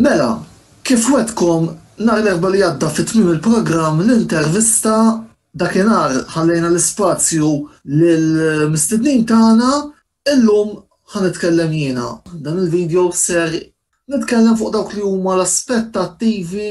Mela, kif wegħdtkom, nhar l-Erbgħa li għadda fi tmiem il-programm l-intervista, dakinhar ħallejna l-ispazju lill-mistednin tagħna, illum ħa nitkellem jiena. Dan il-video ser nitkellem fuq dawk li huma l-aspettattivi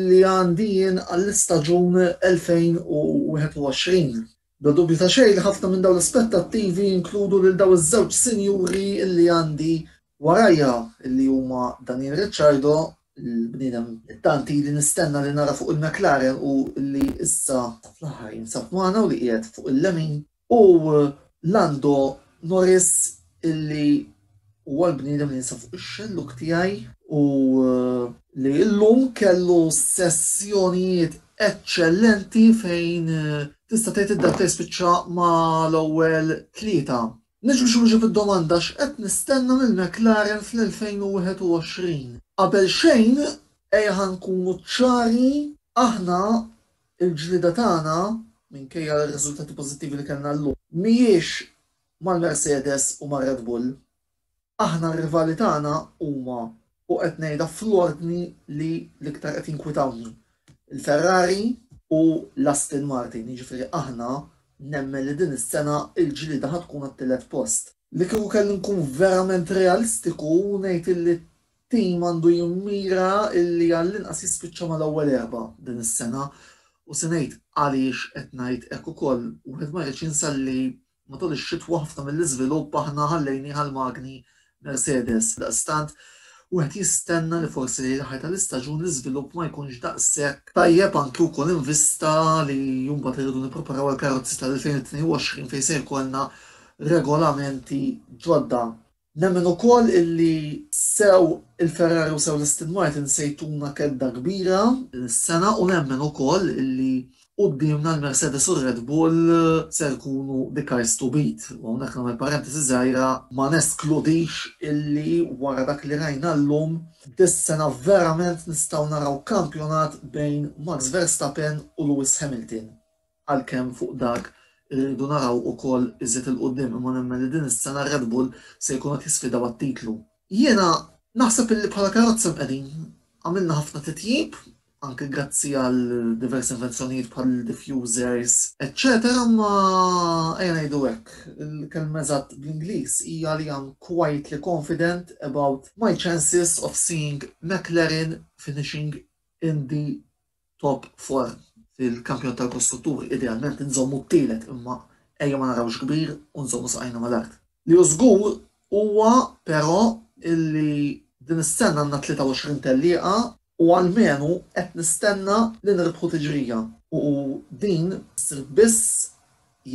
li għandi jien għall-istaġun 2021. Bla dubju ta' xejn li ħafna minn dawn l-aspettattivi jinkludu lil dawn iż-żewġ sinjuri li għandi warajja, li huma Daniel Ricciardo, il-bniedem li tant ili nistenna li nara fuq il-McLaren u li issa fl-aħħar jinsab magħna u li qiegħed fuq il-lemin, u Lando Norris li, Huwa l-bniedem li jinsab fuq ix-xellug tiegħi u li llum kellu sessjonijiet eċċellenti fejn tista' tgħid id-data jispiċċa ma' l-ewwel tlieta. Niġi biex inwieġeb id-domanda x'qed nistenna minn McLaren fl-2021. Qabel xejn ejja nkunu ċari, aħna l-ġlieda tagħna, minkejja r-riżultati pożittivi li kellna llum, mhijiex mal-Mercedes u mar-Red Bull. Aħna r-rivali tagħna huma, u qed ngħidha fl-ordni li l-iktar qed jinkwitawni, il-Ferrari, u l-Aston Martin, jiġifieri aħna nemmen li din is-sena l-ġlieda ħa tkun għat-tielet post. Li kieku kelli nkun verament realistiku ngħid illi t-tim għandu jimmira illi għall-inqas jispiċċa mal-ewwel erba' din is-sena u se ngħid għaliex qed ngħid hekk ukoll, wieħed ma jridx jinsa li Matul ix-xitwa ħafna mill-iżvilupp aħna ħallejnih għall-magni Mercedes, għaldaqstant wieħed jistenna li forsi lejn l-aħħar tal-istaġun l-iżvilupp ma jkunx daqshekk tajjeb anki wkoll in vista li mbagħad irridu nippreparaw għall-karozzi tal-2022 fejn se jkollna regolamenti ġodda. Nemmen ukoll illi sew il-Ferrari u sew l-Aston Martin se jtuna kedda kbira din is-sena u nemmen ukoll illi quddiemna l-Mercedes u r-Red Bull se jkunu the cars to beat. U hawnhekk nagħmel parentesi żgħira ma neskludix illi wara dak li rajna llum dis-sena verament nistgħu naraw kampjonat bejn Max Verstappen u Lewis Hamilton. għalkemm fuq dak irridu naraw ukoll iżjed 'il quddiem imma nemmen li din is-sena r-Red Bull se jkunu qed jisfidaw għat-titlu. Jiena naħseb illi bħala karozza mqiegħdin. Għamilna ħafna titjib, anke grazzi għal diversi invenzjonijiet bħal diffusers eċċetera imma ejja ngħidu hekk, il-kelma eżatt bl-Ingliż hija li I'm quietly confident about my chances of seeing McLaren finishing in the top four fil-kampjonat tal-kostrutturi, idealment inżommu t-tielet imma ejja ma narawx kbir u nżommu saqajna mal-art. Li hu żgur huwa però illi din is-sena għandna 23 tellieqa u almenu qed nistenna li nirbħu tiġrija u din ssir biss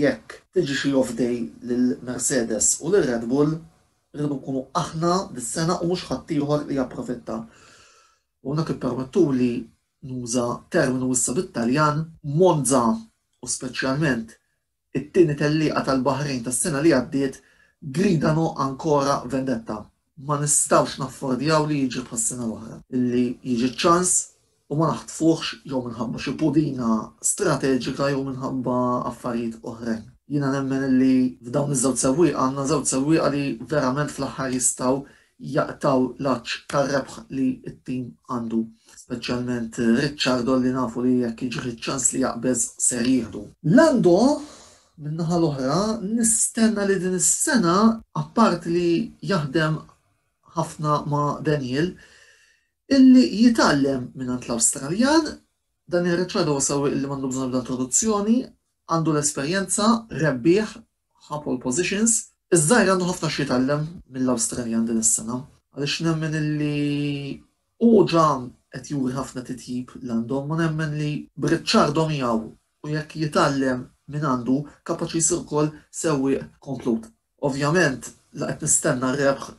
jekk tiġi xi off day lil Mercedes u lil Red Bull, irridu nkunu aħna dis-sena u mhux ħaddieħor li japprofitta. U hawnhekk ippermettuli nuża terminu issa bit-Taljan. Monza u speċjalment it-tieni tellieqa tal-Baħrejn tas-sena li għaddiet gridano ancora vendetta. Ma nistgħux naffordjaw li jiġri bħas-sena l-oħra, li jiġi ċ-ċans u ma naħtfuhx jew minħabba xi pudina strateġika jew minħabba affarijiet oħrajn. Jiena nemmen li f'dawn iż-żewġ sewwieqa għandna żewġ sewwieqa li verament fl-aħħar jistgħu jaqtgħu l-għatx tar-rebħ li t-tim għandu, speċjalment Ricciardo li nafu li jekk jiġih iċ-ċans li jaqbeż ser jieħdu. Lando, min-naħa l-oħra, nistenna li din is-sena, apparti li jaħdem ħafna ma' Daniil, illi jitgħallem mingħand l-Awstraljan, Daniil Ricciardo huwa sewwieq illi m'għandu bżonn ebda introduzzjoni, għandu l-esperjenza, rebbieħ, ħa pole positions. Iż-żgħir għandu ħafna x'jitgħallem mill-Awstraljan din is-sena għaliex nemmen illi hu ġa qed juri ħafna titjib l-għandhom u nemmen li b'Ricciardo miegħu u jekk jitgħallem minn għandu kapaċi jsir ukoll sewwieq komplut. Ovvjament la qed nistenna r-rebħ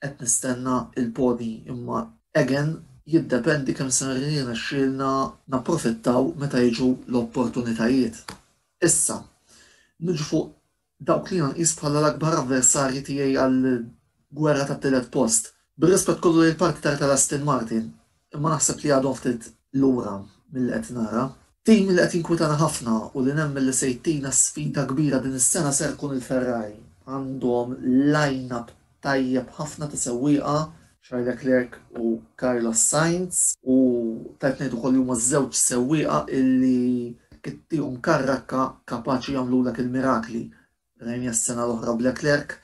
Qed nistenna il-podi imma again jiddependi kemm ser jirnexxielna napprofittaw meta jiġu l-opportunitajiet. Issa, niġu fuq dawk li jiena nqis bħala l-akbar avversarji tiegħi għall-gwerra tat-tielet post. Bir-rispett kollu lejn l-partitar tal-Aston Martin, imma naħseb li għadhom ftit lura milli qed nara. Tim li qed jinkwitana ħafna u li nemmen li se jtina sfida kbira din is-sena ser ikun il-Ferrari. Għandhom line-up tajjeb ħafna ta' sewwieqa, Charles Leclerc u Carlos Sainz, u tajb ngħid ukoll li huma ż-żewġ sewwieqa illi jekk ittihom karrakka kapaċi jagħmlulek il-mirakli. Rajniha s-sena l-oħra b'Leclerc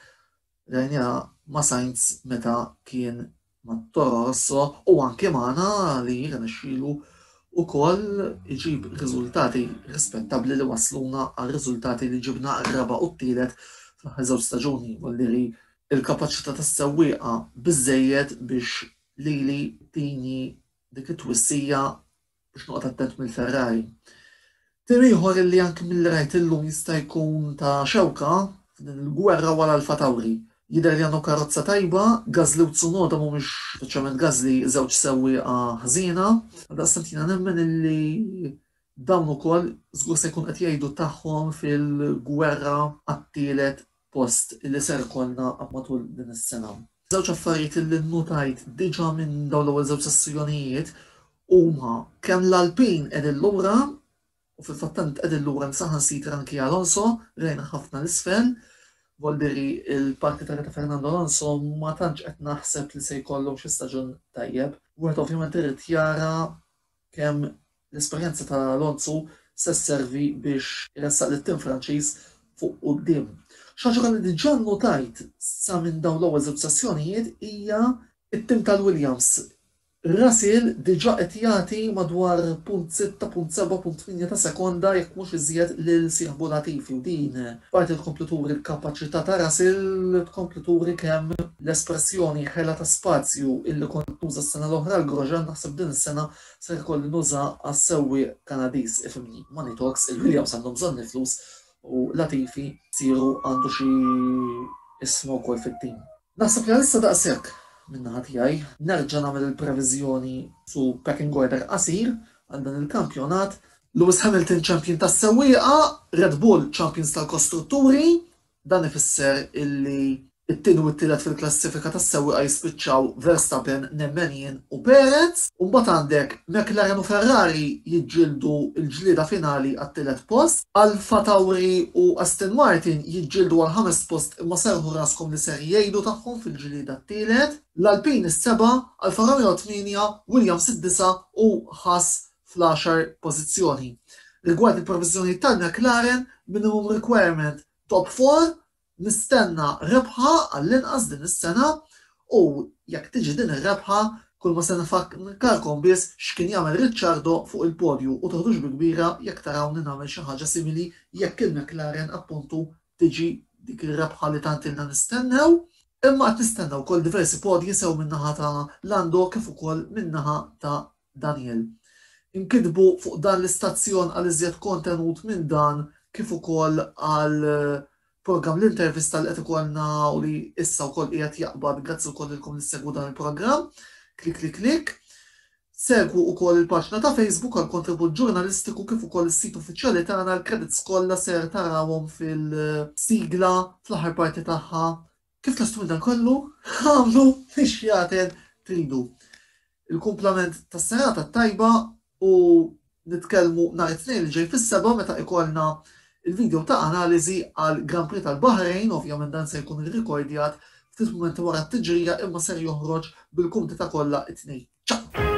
Rajniha ma' Sainz meta kien ma' Toro Rosso u anke magħna li jirnexxielu wkoll iġib riżultati rispettabbli li wassluna għar-riżultati li ġibna r-raba' u t-tielet fl-aħħar żewġ staġuni u alliri l-kapaċità tas-sewwieqa biżżejjed biex lili tini dik it-twissija biex noqgħod attent mill-Ferrari. Tim ieħor illi anki milli rajt illum jista' jkun ta' xewka f'din il-gwerra wara Alfa Tauri. Jidher li għandhom karozza tajba, Gasly u Tsunoda mhumiex, speċjalment Gasly, żewġ sewwieqa ħżiena. Għaldaqstant jiena nemmen illi dawn ukoll żgur se jkun qed jgħidu tagħhom fil-gwerra għat-tielet post li ser ikollna matul din is-sena. Żewġ affarijiet li nnutajt diġà minn dawn l-ewwel żewġ sessjonijiet huma kemm l-Alpin qegħdin lura u fil-fatt tant qegħdin lura li saħansitra anki Alonso rajna ħafna l-isfel. Voldiri il-parti ta' Fernando Alonso ma tantx qed naħseb li se jkollu xi staġun tajjeb. Wieħed ovvjament irid jara kemm l-esperjenza ta' Alonso se sservi biex iressaq lit-tim Franċiż fuq quddiem. Xi ħaġa oħra li diġà nnutajt sa minn dawn l-ewwel żewġ sessjonijiet hija t-tim tal-Williams. Russell diġà qed jagħti madwar punt sitta, punt seba', punt tmienja ta' sekonda jekk mhux iżjed lil sieħbu Latifi u din Parti tkompli turi l-kapaċità ta' Russell li tkompli turi kemm l-espressjoni ħela ta' spazju illi kont nuża s-sena l-oħra għal Grosjean naħseb din is-sena ser ikolli nuża għas-sewwieq Kanadiż, ifhimni, money talks, il-Williams għandhom bżonn il-flus u Latifi msieru għandu xi isma wkoll fit-tim. Naħseb li għalissa daqshekk min-naħa tiegħi. Nerġa' nagħmel il-previżjoni su pecking order qasir għal dan il-kampjonat Lewis Hamilton Champion tas-Sewwieqa, Red Bull Champions tal-Kostrutturi, dan ifisser illi t-tieni u t-tielet fil-klassifika tas-sewwieqa jispiċċaw Verstappen, nemmen jien, u Perez, u mbagħad għandek McLaren u Ferrari jiġġieldu l-ġlieda finali għat-tielet post, AlphaTauri u Aston Martin jiġġieldu għall-ħamest post imma serrħu raskom li ser jgħidu tagħhom fil-ġlieda t-tielet, l-Alpine is-seba', Alfa Romeo t-tmienja, Williams id-disa' u Haas fl-għaxar pożizzjoni. Rigward il-proviżjonijiet tal-McLaren minimum requirement top four, nistenna rebħa għall-inqas din is-sena u jekk tiġi din ir-rebħa kulma se nfakkarkom biss x'kien jagħmel Ricciardo fuq il-podju u toħdux bi kbira jekk tarawni nagħmel xi ħaġa simili jekk il-McLaren appuntu tiġi dik ir-rebħa li tant ilna nistennew. Imma qed nistenna wkoll diversi podji sew min-naħa ta' Lando kif ukoll min-naħa ta' Daniel. Inkitbu fuq dan l-istazzjon għal iżjed kontenut minn dan kif ukoll għal programm l-intervista li qed ikollna u li issa wkoll qiegħed jaqbad grazzi wkoll lilkom li ssegwu dan il-programm. Klik klik klik. Segwu wkoll il-paġna ta' Facebook għal kontribut ġurnalistiku kif ukoll is-sit uffiċjali tagħna l-credits kollha ser tarawhom fil-sigla fl-aħħar parti tagħha Kif lest minn dan kollu, agħmlu x-xjaten tridu. Il-kumplament tas-serata t-tajba u nitkellmu nhar it-Tnejn li ġej fis-sebgħa meta ikollna l-video ta' analiżi għal Grand Prix tal-Baħrejn, ovvjament dan se jkun irrikordjat ftit mumenti wara t-tiġrija imma ser joħroġ bil-kumdita kollha t-Tnejn. Ciao!